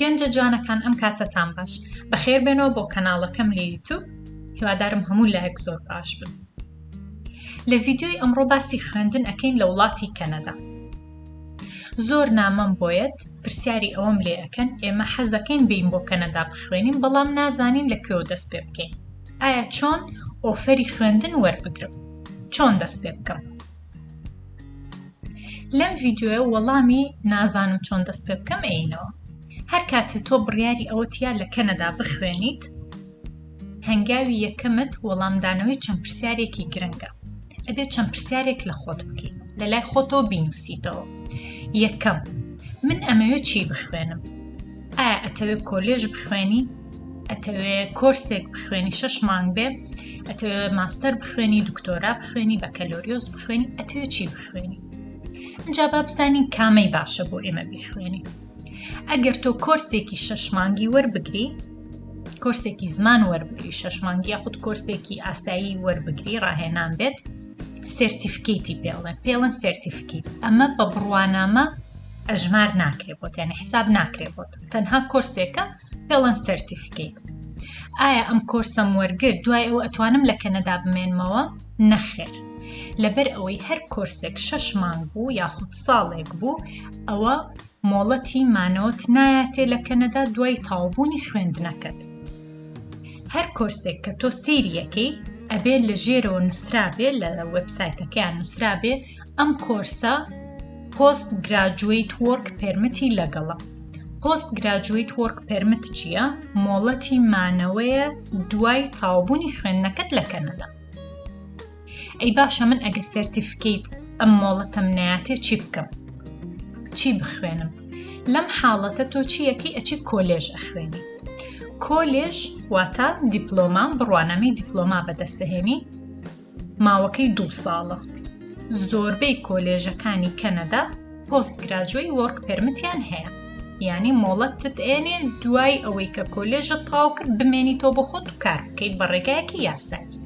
گەنجە جوانەکان ئەم کاتەتان باش بەخێر بێنەوە بۆ کەناڵەکەم لە یوتوب هیوادارم هەموو لایەک زۆر باش بن لە ڤیددیوی ئەمڕۆ باسی خوێندن ئەەکەین لە وڵاتی کەنەدا زۆر نامەم بۆیەت پرسیاری ئەوەم لێ ئەکەن ئێمە حەز دەکەین بین بۆ کەنەدا بخوێنین بەڵام نازانین لە کوێوە دەست پێ بکەین ئایا چۆن ئۆفەری خوێندن وەربگرم چۆن دەست پێ بکەم لەم ڤیددیوە وەڵامی نازانم چۆن دەست پێ بکەم عینەوە هەر کاتێ تۆ بڕیاری ئەوەتیا لە کەنەدا بخوێنیت هەنگاوی یەکەمت وەڵامدانەوەی چەند پرسیارێکی گرنگە ئەبێت چەند پرسیارێک لە خۆت بکەیت لە لای خۆتەوە بینوسیتەوە یەکەم من ئەمەوێت چی بخوێنم ئایا ئەتەوێت کۆلێژ بخوێنی ئەتەوێ کۆرسێک بخوێنی شش مانگ بێ ئەتەوێ ماستەر بخوێنی دکتۆرا بخوێنی بەکەلۆریۆس بخوێنی ئەتەوێ چی بخوێنی ئەجا با بزانین کامەی باشە بۆ ئێمە بیخوێنی ئەگەر تۆ کۆرسێکی شەش مانگی وەربگری کۆرسێکی زمان وەربگری شەش مانگی یاخود کۆرسێکی ئاسایی وەربگری ڕاهێنان بێت سرتیفکیتی پێڵێن پێڵەن سرتیفکیت ئەمە بە بڕوانامە ئەژمار ناکرێ بۆت یعنی حساب ناکرێ بۆت تەنها کۆرسێکە پێڵەن سرتیفکیت ئایا ئەم کۆرسەم وەرگر دوای ئەو ئەتوانم لە کەنەدا بمێنمەوە نەخێر لەبەر ئەوەی هەر کۆرسێک شەش مانگ بوو یاخود ساڵێک بوو ئەوە مۆڵەتی مانەوەت نایەتێ لە کەنەدا دوای تاوبوونی خوێندنەکەت هەر کۆرسێک کە تۆ سیریەکەی ئەبێ لە ژێرەوە نووسرابێ لە وبسایتەکەیان نووسرابێ ئەم کۆرسە پۆست گراجویت وەرک پرمتی لەگەڵە پۆست گراجویت وەرک پرمت چییە؟ مۆڵەتی مانەوەیە دوای تاوبوونی خوێندنەکەت لە کەنەدا. ئەی باشە من ئەگە سەرتیفکەیت ئەم مۆڵەتەم ناتێ چی بکەم چی بخوێنم لەم حاڵەتە تۆ چیەکەی ئەچی کۆلێژ ئەخوێنی کۆلێژ واتە دیپلۆما بڕوانامەی دیپلۆما بەدەستهێنی ماوەکەی دوو ساڵە زۆربەی کۆلێژەکانی کەنەدا پۆست گراجوی وۆرک پێرمتیان هەیە یانی مۆڵەتت ئێنێ دوای ئەوەی کە کۆلێژە تاو کرد بمێنی تۆ بۆ خۆت و کار بکەیت بە ڕێگایەکی یاسایی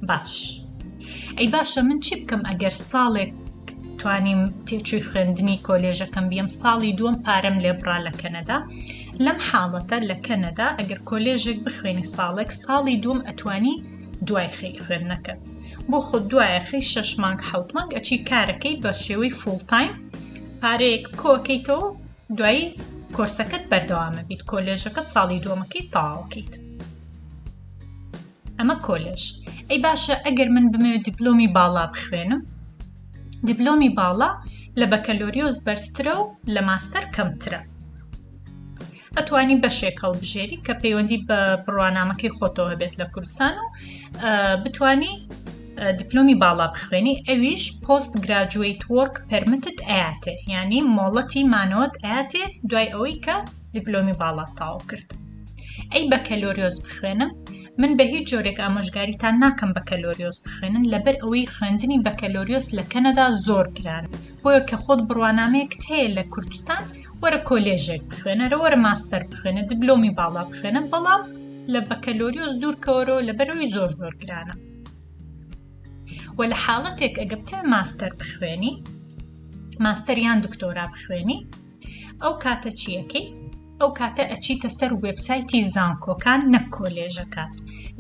باش ئەی باشە من چی بکەم ئەگەر ساڵێک توانیم تێچووی خوێندنی کۆلێژەکەم بیم ساڵی دووەم پارەم لێبڕا لە کەنەدا لەم حاڵەتە لە کەنەدا ئەگەر کۆلێژێک بخوێنی ساڵێک ساڵی دووم ئەتوانی دوای خەی خوێندنەکەت بۆ خۆ دوایە خەی شەش مانگ حوت مانگ ئەچی کارەکەی بە شێوەی فولتایم پارەیەک کۆکەیتەوە دوایی کۆرسەکەت بەردەوامە بیت کۆلێژەکەت ساڵی دووەمەکەی تاوکەیت ئەمە کۆلێژ ئەی باشە ئەگەر من بمەوێت دیپلۆمی باڵا بخوێنم دیپلۆمی باڵا لە بەکەلۆریۆز بەرزترە و لە ماستەر کەمترە ئەتوانی بەشێک هەڵبژێری کە پەیوەندی بە بڕوانامەکەی خۆتەوە بێت لە کوردستان و بتانی دیپلۆمی باڵا بخوێنی ئەویش پۆست گراجویت وەرک پەرمتت ئااتێ ینی مۆڵەتی مانەوەت ئااتێ دوای ئەوەی کە دیپلۆمی باڵات تاو کرد ئەی بەکەلۆریۆز بخوێنم من بە هیچ جۆرێک ئامۆژگاریتان ناکەم بەکەلۆریۆز بخوێنن لەبەر ئەوەی خوێندنی بەکەلۆریۆس لە کەنەدا زۆر گران بۆیە کە خۆت بڕوانامەیەک هەیە لە کوردستان وەرە کۆلێژێک بخوێنەرە وەرە ماستەر بخوێنە دبلۆمی باڵا بخوێنە بەڵام لە بەکەلۆریۆس دوورکەوەرەوە لە بەرەوەی زۆر زۆر گرانە و لە حاڵەتێک ئەگە بتە ماستەر بخوێنی ماستەریان دکتۆرا بخوێنی ئەو کاتە چیەکەی ئەو کاتە ئەچیتە سەر وبسایتی زانکۆکان نەک کۆلێژەکان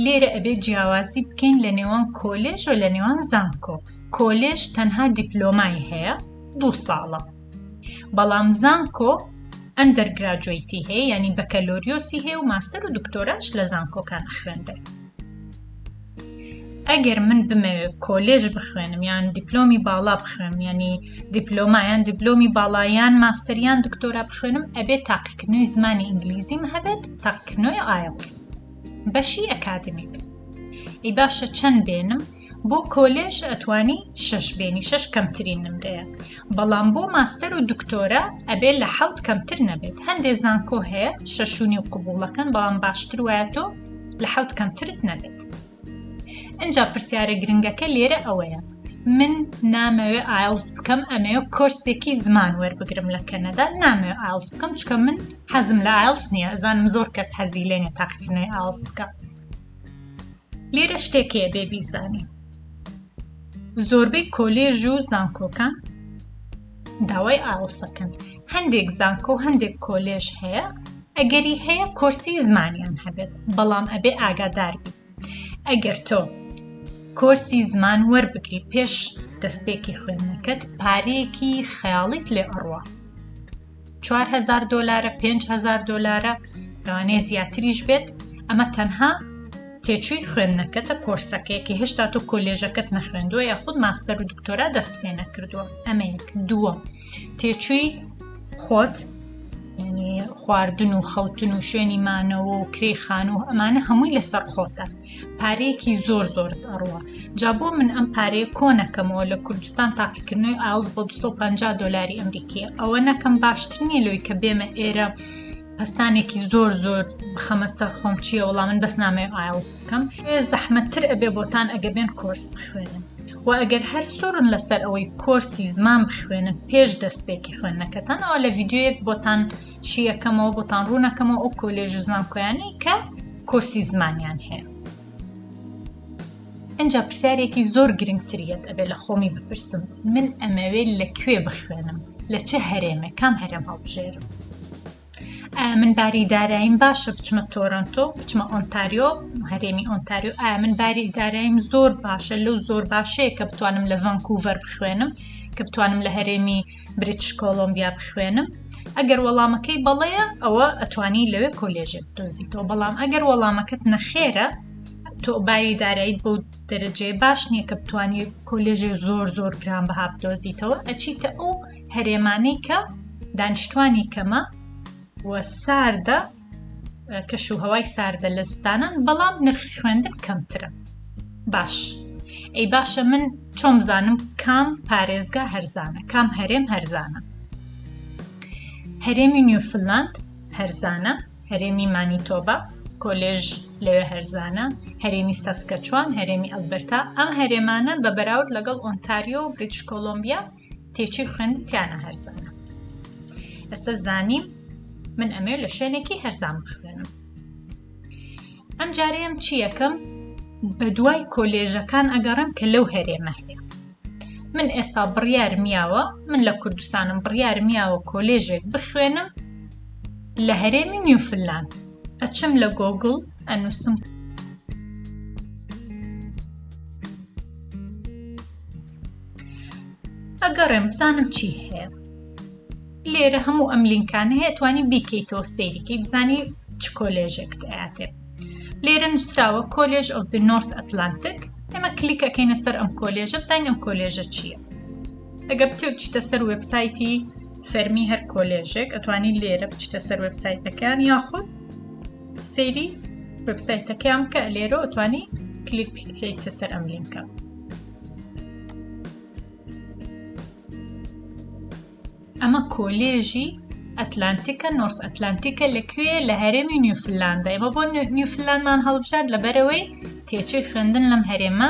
لێرە ئەبێ جیاوازی بکەین لە نێوان کۆلێژ و لە نێوان زانکۆ کۆلێژ تەنها دیپلۆمای هەیە دوو ساڵە بەڵام زانکۆ ئەندەر گراجویتی هەیە ینی بەکەلۆریۆسی هەیە و ماستەر و دکتۆراش لە زانکۆکان خوێنرێ ئەگەر من بمەوێت کۆلێژ بخوێنم یان دیپلۆمی باڵا بخوێنم ینی دیپلۆمایان دیپلۆمی باڵایان ماستەریان دکتۆرا بخوێنم ئەبێت تاقیکردنەوەی زمانی ئینگلیزیم هەبێت تاقیکردنەوەی ئایلس بەشی ئەکادمیک ئی باشە چەند بێنم بۆ کۆلێژ ئەتوانی شەش بێنی شەش کەمترین نمرەیە بەڵام بۆ ماستەر و دکتۆرە ئەبێت لە حوت کەمتر نەبێت هەندێ زانکۆ هەیە شەشونی و قوبوڵەکەن بەڵام باشتر وایە تۆ لە حوت کەمترت نەبێت ئەجا پرسیارە گرنگەکە لێرە ئەوەیە من نامەوێ ئایلز بکەم ئەمێ کۆرسێکی زمان وەربگرم لە کەنەدا نامەوێ ئایلز بکەم چکە من حەزم لە ئایلز نییە ئەزانم زۆر کەس حەزی لێنێ تاقیکردنەوەی ئاوز بکە لێرە شتێک هەیە بێ بیزانین زۆربەی کۆلێژ و زانکۆکان داوای ئاوسەکەن هەندێک زانکۆ و هەندێک کۆلێژ هەیە ئەگەری هەیە کۆرسی زمانیان هەبێت بەڵام ئەبێ ئاگادار بی ئەگەر تۆ کۆرسی زمان وەربگری پێش دەستپێکی خوێندنەکەت پارەیەکی خەیاڵیت لێ ئەڕوە چوارهەزار دۆلارە پێنج هەزار دۆلارە لەوانەیە زیاتریش بێت ئەمە تەنها تێچووی خوێندنەکەتە کۆرسەکەیەکی هێشتا تۆ کۆلێژەکەت نەخوێندووە یا خود ماستەر و دکتۆرا دەست پێ نەکردووە ئەمەیەک دووە تێچووی خۆت خواردن و خەوتن و شوێنی مانەوە و کرێ خان و ئەمانە هەمووی لەسەر خۆتە پارەیەکی زۆر زۆرت ئەڕوە جا بۆ من ئەم پارەیە کۆنەکەمەوە لە کوردستان تاقیکردنەوەی ئالز بۆ 250 دلاری ئەمریکی ئەوە نەکەم باشتر نییە لەوەی کە بێمە ئێرە پستانێکی زۆر زۆر بخەمەستەر خۆم چییە وەڵام من بەس نامێ ئایلز بکەم زەحمەتتر ئەبێ بۆتان ئەگە بێن کۆرس بخوێنن و ئەگەر هەر سۆرن لەسەر ئەوەی کۆرسی زمان بخوێنن پێش دەستپێکی خوێندنەکەتانەوە لە ڤیددیوەک بۆتان شیەکەمەوە بۆتان ڕوونەکەمەوە ئەو کۆلێژ و زانکۆیانی کە کۆسی زمانیان هەیە ئەجا پرسیارێکی زۆر گرنگتریت ئەبێ لە خۆمی بپرسم من ئەمەوێت لە کوێ بخوێنم لە چه هەرێمە کام هەرێم هەڵبژێرم من باری دارایم باشە بچمە تۆرنتۆ بچمە ئۆنتاریۆ هەرێمی ئۆنتاریۆ ئایا من باری دارایم زۆر باشە لەو زۆر باشەیە کە بتوانم لە ڤانکوڤەر بخوێنم کە بتوانم لە هەرێمی بریتش کۆلۆمبیا بخوێنم ئەگەر وەڵامەکەی بەڵەیە ئەوە ئەتوانی لەوێ کۆلێژێک دۆزیتەوە بەڵام ئەگەر وەڵامەکەت نەخێرە تۆ باری دارایت بۆ دەرەجێ باش نییە کە بتانی کۆلێژێ زۆر زۆر گران بەها بدۆزیتەوە ئەچیتە ئەو هەرێمانەی کە دانیشتوانی کەمە وە ساردە کەش و هەوای ساردە لە زستانان بەڵام نرخی خوێندن کەمترە باش ئەی باشە من چۆم زانم کام پارێزگا هەرزانە کام هەرێم هەرزانە هەرێمی نیوفلاند هەرزانە هەرێمی مانیتۆبا کۆلێژ لەوێ هەرزانە هەرێمی سەسکەچوان هەرێمی ئەلبەرتا ئەم هەرێمانە بە بەراورد لەگەڵ ئۆنتاریۆ و بریتش کۆلمبیا و تێچووی خوێن تیانە هەرزانە ئێستا زانیم من ئەمێ لە شوێنێکی هەرزان بخوێنم ئەم جارەیەم چی یەکەم بە دوای کۆلێژەکان ئەگەڕم کە لەو هەرێمە هەیە من ئێستا بڕیار میاوە من لە کوردستانم بڕیار میاوە کۆلێژێک بخوێنم لە هەرێمی نیوفللاند ئەچم لە گۆگل ئەنووسم ئەگەڕێم بزانم چی هەیە لێرە هەموو ئەم لینکان هەیە توانی بیکەیتەوە سەیریکەی بزانی چ کۆلێژێکت ئااتێ لێرە نووسراوە کۆلێژ ئۆف دی نۆرث ئەتلانتک ئێمە کلیکەکەینە سەر ئەم کۆلێژە بزانین ئەم کۆلێژە چییە ئەگە بتێ بچتە سەر وبسایتی فەرمی هەر کۆلێژێک ئەتوانی لێرە بچتە سەر وبسایتەکان یاخود سەیری وبسایتەکەیان بکە لێرە ئەتوانی کلیک بکەیتە سەر ئەم لینکە ئەمە کۆلێژی ئەتلانتیکە نۆرس ئەتلانتیکە لەکوێ لە هەرێمی نیوفللاندە ئێمە بۆ نیوفللاندمان هەڵبژارد لەبەرەوەی تێچوی خوێندن لەم هەرێمە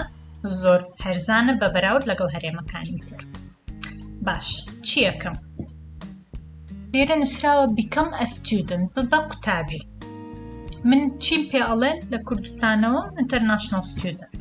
زۆر هەرزانە بە بەراورد لەگەڵ هەرێمەکانی تر باش چیەکەم لێرە نووسراوە بیکەم ئەستودن بە قوتابی من چیم پێ ئەڵێن لە کوردستانەوە ئینتەرناشنال ستودنت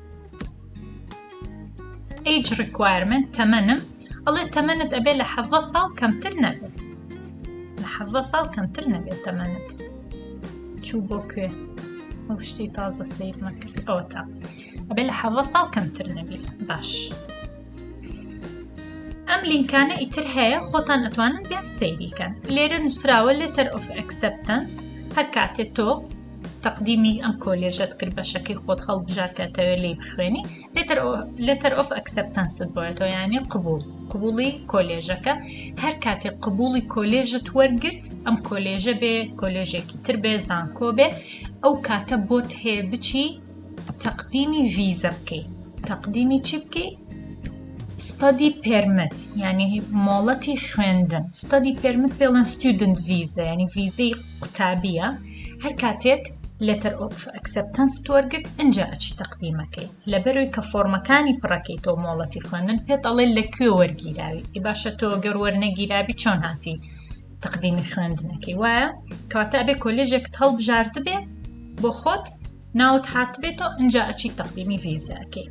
Age requirement تەمەنم ئەڵێ تەمەنت ئەبێ لە حەڤە ساڵ کەمتر نەبێت لە حەڤە ساڵ کەمتر نەبێت تەمەنت چوو بۆ کوێ ئەو شتی تازە سیر نەکرد ئەوە تا ئەبێ لە حەڤە ساڵ کەمتر نەبیت باش ئەم لینکانە ئیتر هەیە خۆتان ئەتوانن بێن سەیریکەن لێرە نووسراوە لێتەر ئۆف ئەکسپتەنس هەر کاتێ تۆ تەقدیمی ئەم کۆلێژەت کرد بەشەکەی خۆت هەڵبژار کە تەوێ لی بخوێنی لێتەر ئۆف ئەکسپتەنست بۆێتەوە یانێ قبول قبولی کۆلێژەکە هەر کاتێک قبولی کۆلێژت وەرگرت ئەم کۆلێژە بێ کۆلێژێکی تر بێ زانکۆ بێ ئەو کاتە بۆت هەیە بچی تەقدیمی ڤیزە بکەی تەقدیمی چی بکەی ستادی پێرمت ینی مۆڵەتی خوێندن ستادی پێرمت پێڵەن ستودنت ڤیزە ینی ڤیزەی قوتابیە هەر کاتێک لەتەر ئۆف ئەکسپتەنست وەرگرت ئەجا ئەچی تەقدیمەکەی لەبەرەوەی کە فۆرمەکانی پڕەکەی تۆ مۆڵەتی خوێندن پێ دەڵێن لە کوێ وەرگیراوی ئی باشە تۆ گەر وەرنەگیرابی چۆن هاتی تەقدیمی خوێندنەکەی وایە کاتە ئەبێ کۆلێژێکت هەڵبژاردبێ بۆ خۆت ناوت هاتبێتەوە ئەجا ئەچی تەقدیمی ڤیزەکەی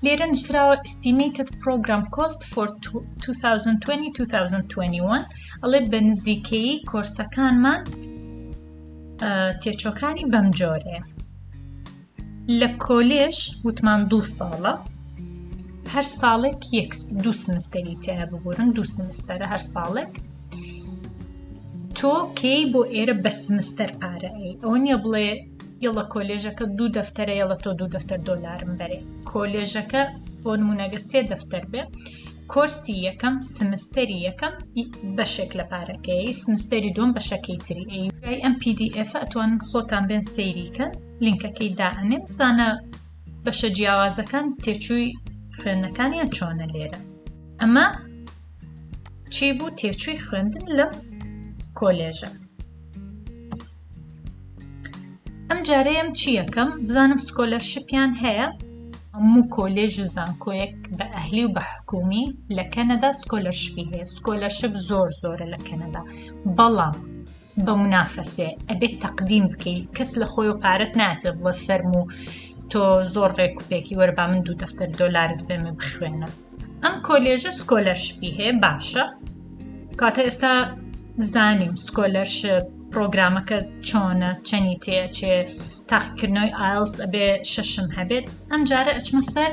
لێرە نووسراوە ئستیمیتت پرۆگرام کۆست فۆر 2020 ئەڵێ بە نزیکەیی کۆرسەکانمان تێچۆکانی بەم جۆرێ لە کۆلێژ وتمان دوو ساڵە هەر ساڵێک یەک دوو سمستەری تیا ببورن دوو سمستەرە هەر ساڵێک تۆ کەی بۆ ئێرە بە سمستەر پارەئەی ئەوە نیە بڵێ یەڵە کۆلێژەکە دوو دەفتەرە یەڵە تۆ دوو دەفتەر دۆلارم بەرێ کۆلێژەکە بۆ نمونەگە سێ دەفتەر بێ کۆرسی یەکەم سمستەری یەکەم بەشێک لە پارەکەی سمستەری دوم بەشەکەی تری ئەی ئەم PDF ئەتوان خۆتان بێن سەیریکە لینکەکەی دائنێ بزانە بەشە جیاوازەکان تێچووی خوێندنەکانیان چۆنە لێرە ئەمە چی بوو تێچووی خوێندن لەم کۆلێژە ئەم جارەیەم چی یەکەم بزانم سکۆلەرشپیان هەیە هەموو کۆلێژ و زانکۆیەک بە ئەهلی و بە حکومی لە کەنەدا سکۆلەرشپی هەیە سکۆلەرشپ زۆر زۆرە لە کەنەدا بەڵام بە منافەسێ ئەبێت تەقدیم بکەیت کەس لە خۆی و پارەت ناتێ بڵە فەرموو تۆ زۆر ڕێکوپێکی وەربا من دوو دەفتەر دۆلارت بێمە بخوێنە ئەم کۆلێژە سکۆلەرشپی هەیە باشە کاتە ئێستا بزانین سکۆلەرش پرۆگرامەکە چۆنە چەنی تێچێ تاقیکردنەوەی ئایلس ئەبێ شەشم هەبێت ئەم جارە ئەچمە سەر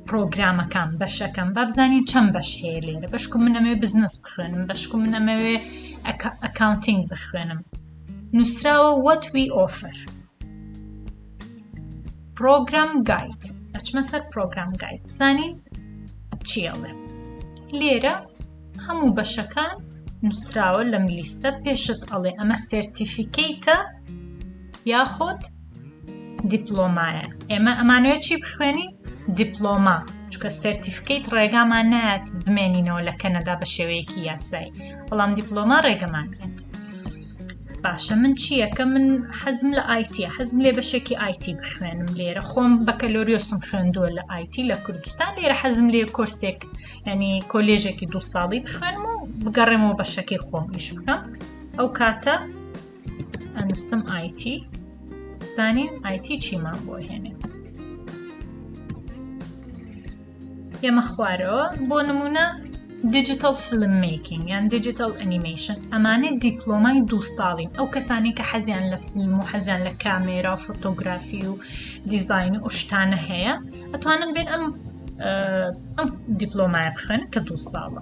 پرۆگرامەکان بەشەکەم با بزانین چەند بەش هەیە لێرە بەشکم منەمەوێ بزنس بخوێنم بەشکم منەمەوێ ئەکاونتنگ بخوێنم نووسراوە وەت وی ئۆفر پرۆگرام گایت ئەچمە سەر پرۆگرام گایت بزانین چیڵێ لێرە هەموو بەشەکان نووسراوە لەم لیستە پێشت ئەڵێ ئەمە سرتیفیکەیتە یاخود دیپلۆمایە ئێمە ئەمانەوە چی بخوێنی دیپلۆما چکە سرتیفکەیت ڕێگامان نایەت بمێنینەوە لە کەنەدا بە شێوەیەکی یاسایی بەڵام دیپلۆما ڕێگەمان کرد باشە من چیەکە من حەزم لە ئایتی حەزم لێ بەشێکی ئایتی بخوێنم لێرە خۆم بەکەلۆریۆسم خوێندووە لە ئایتی لە کوردستان لێرە حەزم لێ کۆرسێک ینی کۆلێژێکی دو ساڵی بخوێنم و بگەڕێمەوە بەشەکەی خۆم ئیش بکەم ئەو کاتە ئەنووسم ئایتی بزانین ئایتی چیمان بۆ هێنێ یەمە خوارەوە بۆ نمونە دیجیتال فلم میکینگ یان دیجیتال ئەنیمەیشن ئەمانە دیپلۆمای دووستاڵین ئەو کەسانی کە حەزیان لە فیلم و حەزیان لە کامێرا و فۆتۆگرافی و دیزین و شتانە هەیە ئەتوانن بێن ئەم ئەم دیپلۆمای بخن کە دوو ساڵە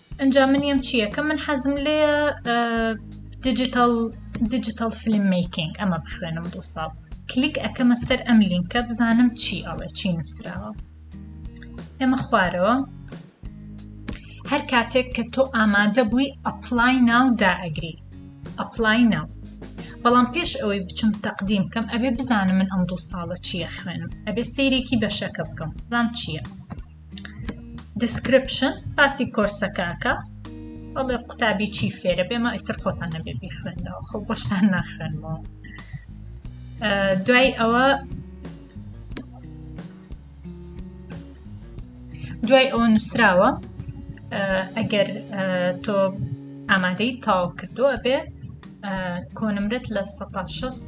ئنجا من یەم چی یەکەم من حەزم لێیە دیجیتال دیجیتال فیلم میکینگ ئەمە بخوێنم دو ساڵ کلیک ئەەکەمە سەر ئەم لینکە بزانم چی ئەڵێ چی نووسراوە ئێمە خوارەوە هەر کاتێک کە تۆ ئامادە بووی ئەپلای ناو دائەگری ئەپلای ناو بەڵام پێش ئەوەی بچم تەقدیم کەم ئەبێ بزانم من ئەم دوو ساڵە چییە خوێنم ئەبێ سیرێکی بەشەکە بکەم ڕام چییە؟ دیسکرپشن باسی کۆرسەکەکە ئەڵێ قوتابی چی فێرە بێمە ئیتر خۆتان نەبێ بیخوێنەوە خۆ بۆشتان ناخوێنەوە دوای ئەوە دوای ئەوە نووسراوە ئەگەر تۆ ئامادەی تاو کردووە بێ کۆنمرەت لە سەتا شەست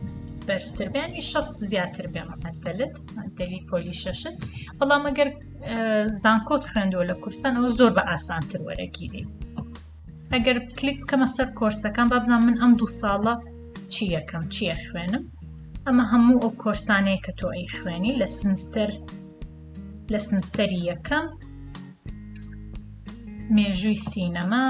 بەرزتر بێ ینی شەست زیاتر بێ مەعەدەلت مەعەدەلی پۆلی شەشت بەڵام ئەگەر زانکۆت خوێندووە لە کورسان ئەوە زۆر بە ئاسانتر وەرەگیری ئەگەر کلیک بکەمە سەر کۆرسەکان بابزان من ئەم دوو ساڵە چی یەکەم چیە خوێنم ئەمە هەموو ئەو کۆرسانەیە کە تۆ ئەی خوێنی لە سمستەر لە سمستەری یەکەم مێژووی سینەما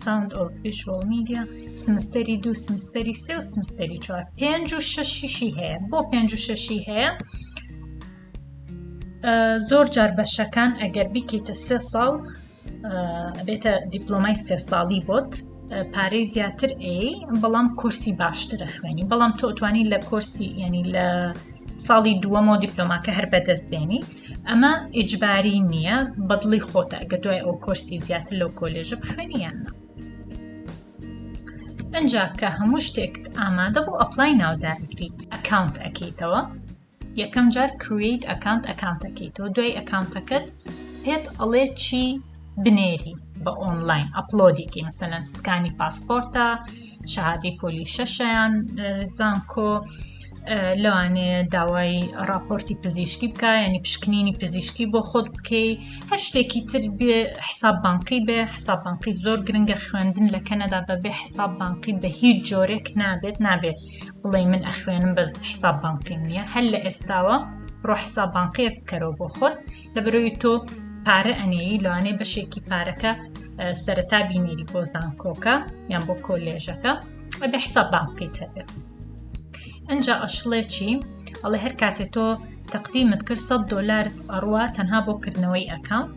ساوند ئۆف ڤیژوەڵ میدیا سمستەری دوو سمستەری سێ و سمستەری چوار پێنج و شەشیشی هەیە بۆ پێنج و شەشی هەیە زۆر جار بەشەکان ئەگەر بیکەیتە سێ ساڵ بێتە دیپلۆمای سێ ساڵی بۆت پارەی زیاتر ئەی بەڵام کورسی باشترە خوێنی بەڵام تۆتوانی لە کورسی ینی لە ساڵی دووەمەوە دیپلۆماکە هەر بەدەست بێنی ئەمە ئیجباری نییە بەدڵی خۆتە گە دوای ئەو کۆرسی زیاتر لەو کۆلێژە بخوێنی یان نا ئەجا کە هەموو شتێکت ئامادە بۆ ئەپلای ناودارگری ئەکاونت ئەکەیتەوە یەکەم جار کرویت ئەکانت ئەکانتەکەیتەوە دوای ئەکانتەکەت پێت ئەڵێ چی بنێری بە ئۆنلاین ئەپلۆدیکی مەسەەن سکانی پاسپۆرتە شادی پۆلی شەشیان زانکۆ لەوانێ داوای راپۆرتی پزیشکی بکە ینی پشکنینی پزیشکی بۆ خۆت بکەی هەر شتێکی تر بێ حساب بانقی بێ حساب بانقی زۆر گرنگە خوێندن لە کەنەدا بەبێ حساب بانقی بە هیچ جۆرێک نابێت نابێت بڵێ من ئەخوێنم بەس حساب بانقی نیە هەر لە ئێستاوە ڕۆحسا بانقێک بکەرەوە بۆ خۆت لە بەرەوی تۆ پارە ئەنێی لەوانەیە بەشێکی پارەکە سەرەتا بینێری بۆ زانکۆکە یان بۆ کۆلێژەکە ئەبێ حساب بان بکەیت هەبێت ئەجا ئەشڵێ چی ئەڵێ هەر کاتێ تۆ تەقدیمت کرد 100 دلارت ئەڕوە تەنها بۆ کردنەوەی ئەکاونت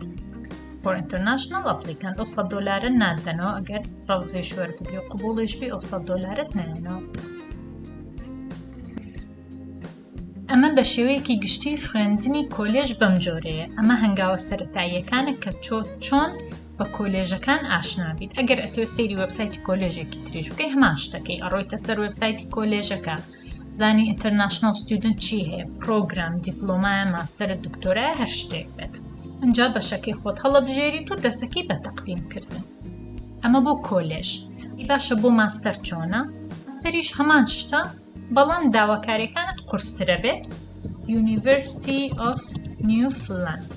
بۆ ئینتەرناشنل ئەپلیکانت ئەو 100 دلارە نادەنەوە ئەگەر ڕەوزێ شوەر بگری و قوبڵیش بێ ئەو 100 دلارت نایەنەوە ئەمە بە شێوەیەکی گشتی خوێندنی کۆلێژ بەم جۆرەیە ئەمە هەنگاوە سەرەتاییەکانە کە چۆ چۆن بە کۆلێژەکان ئاشنابیت ئەگەر ئەتوێ سەیری وبسایتی کۆلێژێکی تریش بکەی هەمان شتەکەی ئەڕۆیتە سەر وبسایتی کۆلێژەکە زانی ئینتەرناشنل ستودنت چی هەیە پرۆگرام دیپلۆمایە ماستەرە دکتۆرای هەر شتێک بێت ئەجا بەشەکەی خۆت هەڵەبژێری تو دەستەکەی بە تەقدیم کردن ئەمە بۆ کۆلێژ باشە بۆ ماستەر چۆنە ماستەریش هەمان شتە بەڵام داواکاریەکانت قورسترە بێت University of Newfoundland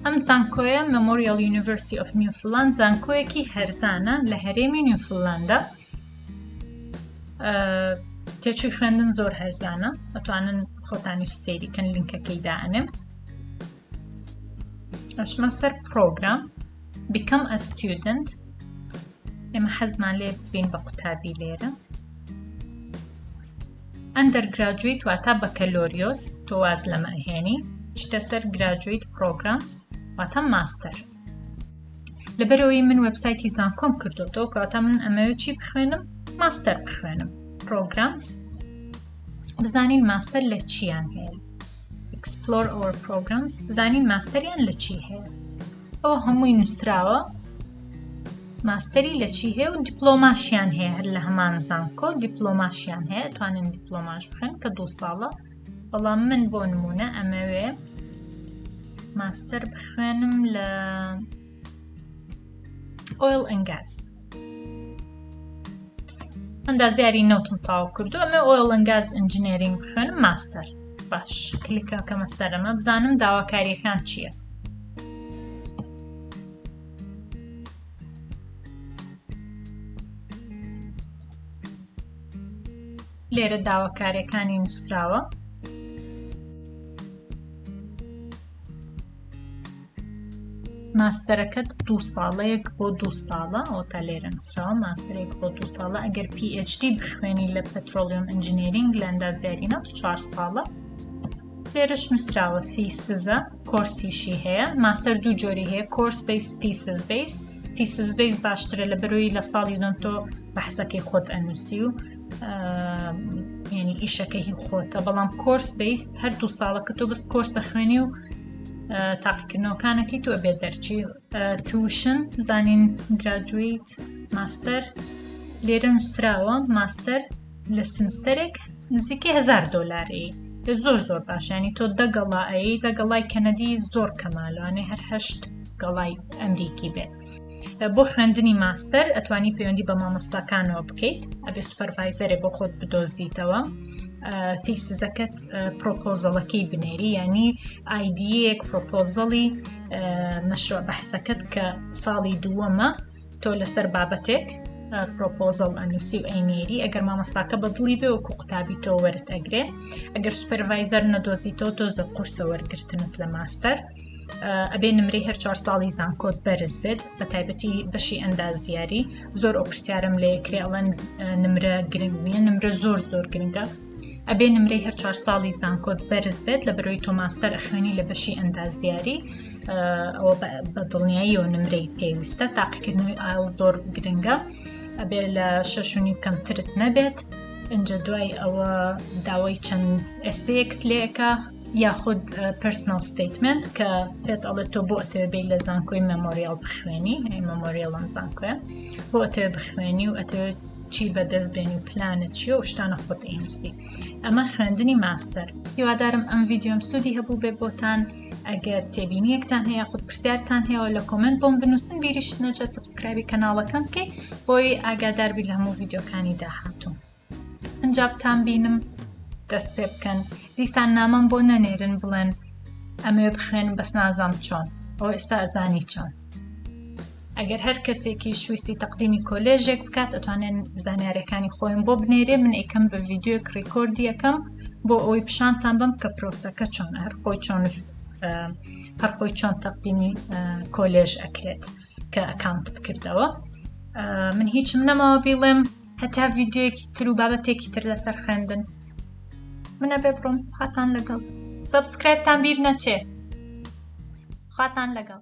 ئەم زانکۆیە Memorial University of Newfoundland زانکۆیەکی هەرزانە لە هەرێمی نیوفلاندا تێچوی خوێندن زۆر هەرزانە ئەتوانن خۆتانیش سەیریکەن لینکەکەی دائنێم ئەچمە سەر پرۆگرام بیکەم ئە ستودنت ئێمە حەزمان لێ ببین بە قوتابی لێرە ئەندەر گراجویت واتا بەکەلۆریۆس تۆواز لەمە هێنی شتە سەر گراجویت پرۆگرامس واتا ماستەر لەبەرەوەی من وبسایتی زانکۆم کردوەوە کەواتە من ئەمەوێت چی بخوێنم ماستەر بخوێنم پرۆگرامس بزانین ماستەر لە چیان هەیە Explore our programs بزانین ماستەریان لە چی هەیە ئەوە هەمووی نووسراوە ماستەری لە چی هەیە و دیپلۆماشیان هەیە هەر لە هەمان زانکۆ دیپلۆماشیان هەیە توانن دیپلۆماش بخن کە دو ساڵە بەڵام من بۆ نمونە ئەمەوێ ماستەر بخوێنم لە ئۆیل ئەنگاز ئەندازیاری نەوتم تاو کردو ئەمە ئۆیل ئەنگاز ئەنجنێرینگ بخوێنم ماستەر باش کلیکە کەمە سەرەمە بزانم داواکاریەکان چییە؟ لێرە داواکاریەکانی نووسراوە ماستەرەکەت دو ساڵەیەک بۆ دو ساڵە ئەو تا لێرە نووسراوە ماستەرێک بۆ دو ساڵە ئەگەر PhD بخوێنی لە پەترۆلیۆم ئەنجینێرینگ لە ئەندازداری ناو چوار ساڵە لێرەش نووسراوە فیسزە کۆرسیشی هەیە ماستەر دوو جۆری هەیە کۆرس بیس فیسز بیس فیسز بیس باشترە لە بەرۆی لە ساڵی دۆن تۆ بەحسەکەی خۆت ئەنووسی و یعنی ئیشەکەی خۆتە بەڵام کۆرس بیست هەر دوو ساڵەکە تۆ بەس کۆرس دەخوێنی و تاقیکردنەوەکانەکەی تۆ بێ دەرچی تووشن زانین گراجویت ماستەر لێرە نووسراوە ماستەر لە سنستەرێک نزیکەی هزار دۆلاری لە زۆر زۆر باشیانی تۆ دەگەڵا ئەی دەگەڵای کەنەدی زۆر کەمالوانێ هەرهشت گەڵای ئەمریکی بێت. بۆ خوێندنی ماستەر ئەتوانی پەیوەندی بە مامۆستاکانەوە بکەیت ئەبێ سوپەرڤایزەرێ بۆ خۆت بدۆزیتەوە تیسزەکەت پرۆپۆزەڵەکەی بنێری ینی ئایدیەک پرۆپۆزەڵی مەشروع بەحسەکەت کە ساڵی دووەمە تۆ لەسەر بابەتێک پرۆپۆزل ئەنووسی و ئەینێری ئەگەر مامۆستاکە بە دڵی بێ وکو قوتابی تۆ وەرت ئەگرێ ئەگەر سوپەرڤایزەر نەدۆزیتەوە تۆزە قورسە وەرگرتنت لە ماستەر ئەبێ نمرەی هەر چوار ساڵی زانکۆت بەرز بێت بە تایبەتی بەشی ئەندازیاری زۆر ئەو پرسیارم لێ کرێڵەن نمرە گرنگ نییە نمرە زۆر زۆر گرنگە ئەبێ نمرەی هەر چوار ساڵی زانکۆت بەرز بێت لە بەرۆی تۆماستەر ئەخوێنی لە بەشی ئەندازیاری ئەوە بە دڵنیایی و نمرەی پێویستە تاقیکردنەوەی ئایل زۆر گرنگە ئەبێ لە شەشنی کەمترت نەبێت. ئەجا دوای ئەوە داوای چەند ئێستەیەکت لێکە یاخود پرسنل ستیتمنت کە پێت ئەڵێت تۆ بۆ ئەتەوێ بێت لە زانکۆی مەمۆریال بخوێنی ئەی مەمۆریالم زانکۆە بۆ ئەتەوێ بخوێنی و ئەتەوێت چی بەدەست بێن و پلانە چیە و شتانە خۆت ئینوستی ئەمە خوێندنی ماستەر هیوادارم ئەم ویددیۆم سوودی هەبوو بێ بۆتان ئەگەر تێبینیەکتان هەیە خود پرسیارتان هەیە لە کۆمنت بۆم بنووسن بیریشت نەجە سبسکرایبی کەناڵەکەم بکەیت بۆی ئاگاداربی لە هەموو ویددیوکانی داهاتوو ئنجا بتان بینم دەست پێ بکەن دیسان نامەم بۆ نەنێرن بڵێن ئەمەوێ بخوێنم بەس نازام چۆن ئەو ئێستا ئەزانی چۆن ئەگەر هەر کەسێکی شویستی تەقدیمی کۆلێژێک بکات ئەتوانێن زانیارەکانی خۆیم بۆ بنێرێ من ئەیکەم بە ڤیددیوێک ڕیکۆردیەکەم بۆ ئەوەی پیشانتان بم کە پرۆسەکە چۆن هەر خۆی چۆن هەرخۆی چۆن تەقدیمی کۆلێژ ئەکرێت کە ئەکانتت کردەوە من هیچم نەماوە بیڵێم هەتا ڤیددیوەکی تر و بابەتێکی تر لەسەر خوێندن منە بێ بڕۆم خواتان لەگەڵ سبسکرایبتان بیر نەچێ خواتان لەگەڵ